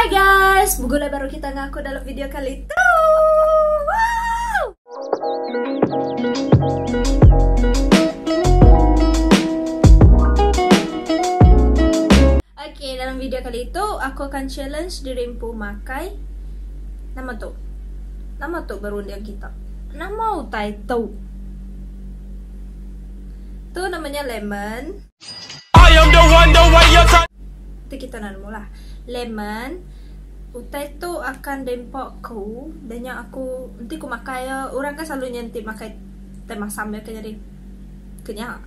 Hi guys, begulai baru kita enggau aku dalam video kali tu. Okay, dalam video kali itu aku akan challenge diri empu makai nama tu? Nama tu berunding kita? Nama utai tu? Tu namanya lemon. Tu kita nan mula. Lemon utai tu akan dempa aku dah nya aku enti ku makai iya orang kan selalu nyentik makai tai masam iya kan jadi ke nya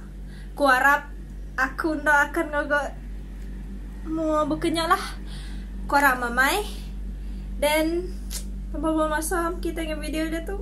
ku arap aku enda akan ngaga mua baka nya lah. Ku arap amai then tambah bala masam kita nya video dia tu.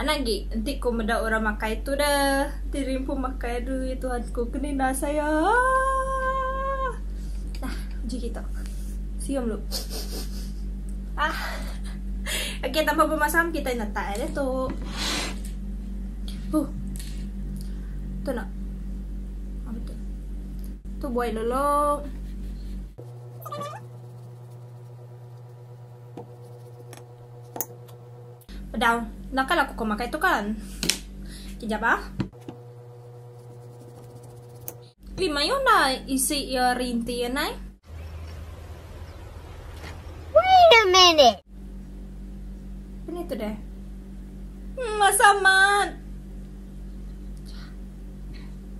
Anak gik, enti ko meda orang makai tu da, enti rimpu makai adui Tuhan ko ke ninda saya aah. Nah, uji kita. Sium lu. Ah. Okey, tanpa bemasam kita netak air dia tu. Huh. Tu nak. Apa tu? Tu buai lolong. Pedau. Naka laku ko makai tu kan. Kejap bah. Ui mayuh nah isi ia rinti ya nai. Wait a minute. Ini tu deh. Hmm, masa amat.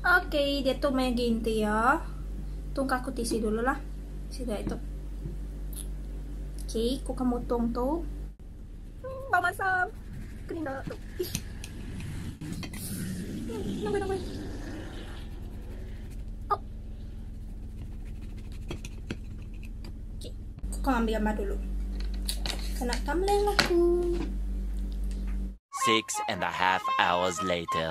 Ok diatu meh agi enti iya. Tung ka aku tisi dulu lah. Sida itu. Okay, ku ka mutung tu. Hmm, bau masam. Keninda tu. Ish. Hmm, nangoi nangoi. Oh. Okay, ku ka ambil gambar dulu. Kena thumbnail aku. Six and a half hours later.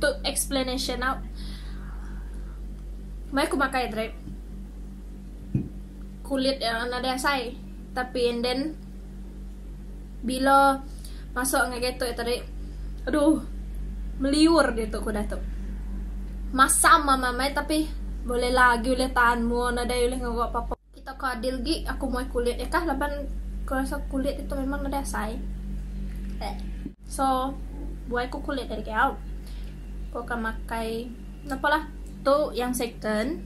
Tu explanation nau mai ku makai drip kulit ya nadai asai tapi and then bila masuk ngai getok ya tadi aduh meliur dia tu ku dah tu masam mama mai tapi boleh lagi ulih tahan mu nadai ulih ngawa apa-apa Kita ke adil gi aku muai kulit iya kah laban ku rasa kulit ditu memang nadai asai. Tek. So buai ku kulit ari Giau. Ku akan makai napa lah. Tu yang second.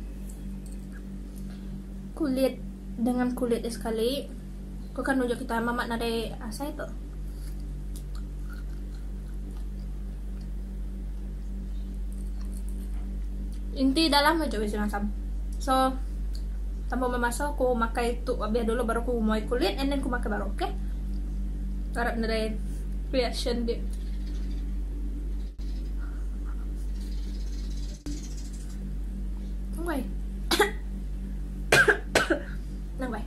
Kulit dengan kulit dia sekali. Ku kanu ja kitai mamat nadai asai tu. Inti dah lama ja bisi masam. So tambah memaso ku makai tu abih dulu baru ku muai kulit and then ku makai baru okay. Harap nadai reaction dia. Wei. Nang wei.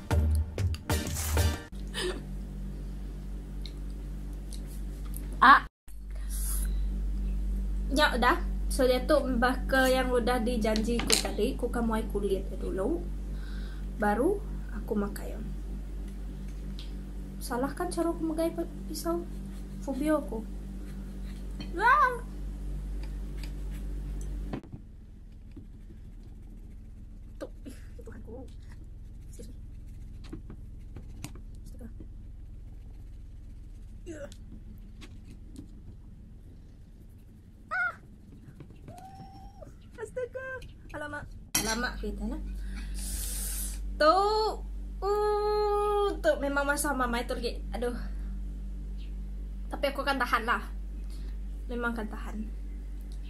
Ak. Nya udah. So diatu baka yang udah dijanji ku tadi, ku akan muai kulit dia dulu baru aku makai iya. Salah kan cara ku megai pisau? Fobia aku. Yaa. Tok ih ya Tuhan ku. Excuse me. Astaga. Yeah. Ah. Uh. Astaga. Alamak. Alamak kita lah. Tok. Uh, tok memang masa mama itu lagi. Aduh. Tapi aku akan tahan lah. Memang akan tahan.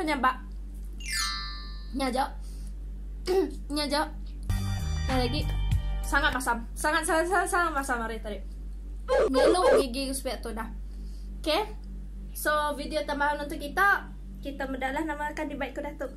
Kau nyabak Nya jok Nya jok Nya lagi Sangat masam Sangat sangat sangat, sangat masam hari tadi Nyeluk gigi sepiak tu dah Okay So video tambahan untuk kita Kita medalah nama akan dibaik ke datuk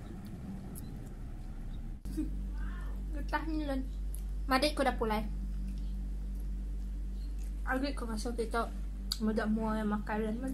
Getah ni lun. Madik ku dapur lai. Agik ku masa kita meda mua ya makai lun mun.